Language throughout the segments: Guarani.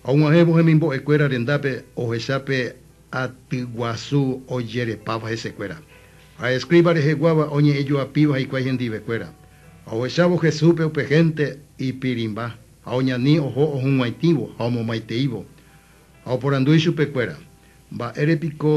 Ha og̃uahẽvo hemimbo'ekuéra rendápe ohecha pe aty guasu ojerepáva hesekuéra. Ha eskríva reheguáva oñe'ẽjoapíva hikuái hendivekuéra. Ha ohechávo Jesúspe upe hénte ipirĩmba, ha oñani oho ohug̃uaitĩvo ha omomaiteívo. Ha oporandu ichupekuéra, Mba'ére piko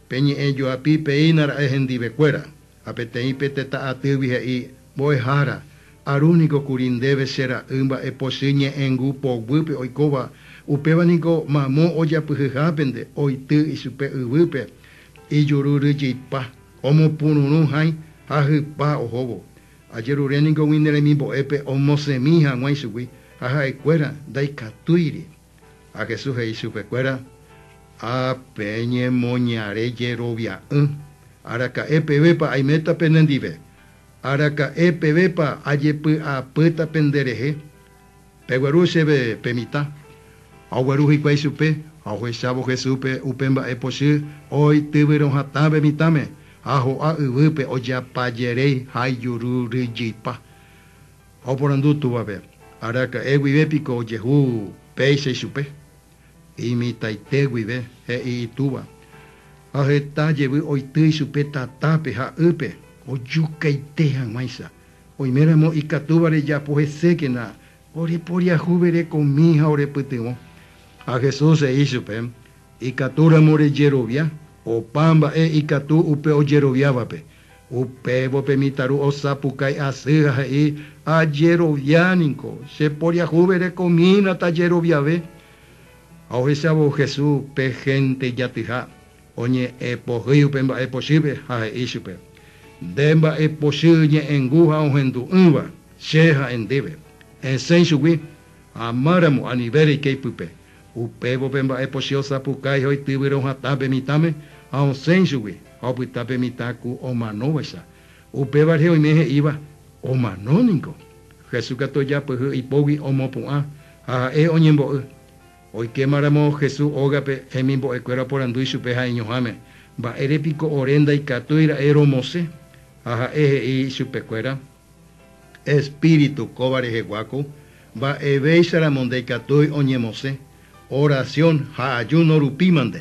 pe ñe'ẽ joapi péina ra'e hendivekuéra? Ha peteĩ pe tetã atýgui he'i, Mbo'ehára, aru niko kuri ndéve che ra'y mba'epochy ñe'ẽngu poguýpe oikóva, upéva niko mamo ojapyhyhápente oity ichupe yvýpe ijuru ryjyipa, omopururũ hãi ha hypa ohóvo. Ajerure niko umi ne remimbo'épe omosẽmi hag̃ua ichugui, ha ha'ekuéra ndaikatúiri. Ha Jesús he'i chupe kuéra, Ha peñemoñare jerovia'ỹ, araka'e pevépa aiméta pene ndive? Araka'e pevépa ajepy'apýta pende rehe? Pegueru chéve pe mitã. Ha ogueru hikuái chupe, ha ohechávo Jesúspe upe mba'e pochy oĩ tyvyrõ hatãve mitãme, ha ho'a yvýpe ojeapajeréi ha ijuru ryjypa. Ha oporandu túvape, Araka'e guive piko ojehu péicha ichupe? Imitãite guive, he'i itúva. Ha heta jevy oity ichupe tatápe ha ýpe, ojukaite hag̃uáicha. Oiméramo ikatúva rejapo hesékena, oreporiahu verekomi ha orepytyvõ. Ha Jesús he'i ichupe, Ikatúramo rejerovia opa mba'e ikatu upe ojeroviávape. Upévo pe mitãru osapukái asy ha he'i, Ajerovia niko, che poriahuve rekomína tajeroviave. Ha ohechavo Hesu pe hénte ijatyha, oñe'ẽ pohýi upe mba'e pochýpe ha he'i chupe, Nde mba'e pochy ñe'ẽngu ha ohendu'ỹva, che ha'e ndéve. Esẽ ichugui, amáramo anive reike ipype, Upévo pe mba'e pochy osapukái ha oityvyro hatã pe mitãme ha osẽ ichugui ha opyta pe mitã ku omanóvaicha. Upéva rehe oime he'íva, Omano niko. Jesús katu ojapyhy ipógui omopu'ã ha ha'e oñembo'y. Oikéma ramo Jesús ógape, hemimbo'e kuéra oporandu ichupe ha'eñoháme, Mba'ére piko ore ndaikatúi ra'e romosẽ? Ha ha'e he'i ichupe kuéra, Espíritu kóva reheguáko mba'evéicharamo ndaikatúi oñemosẽ, oración ha ayuno rupímante.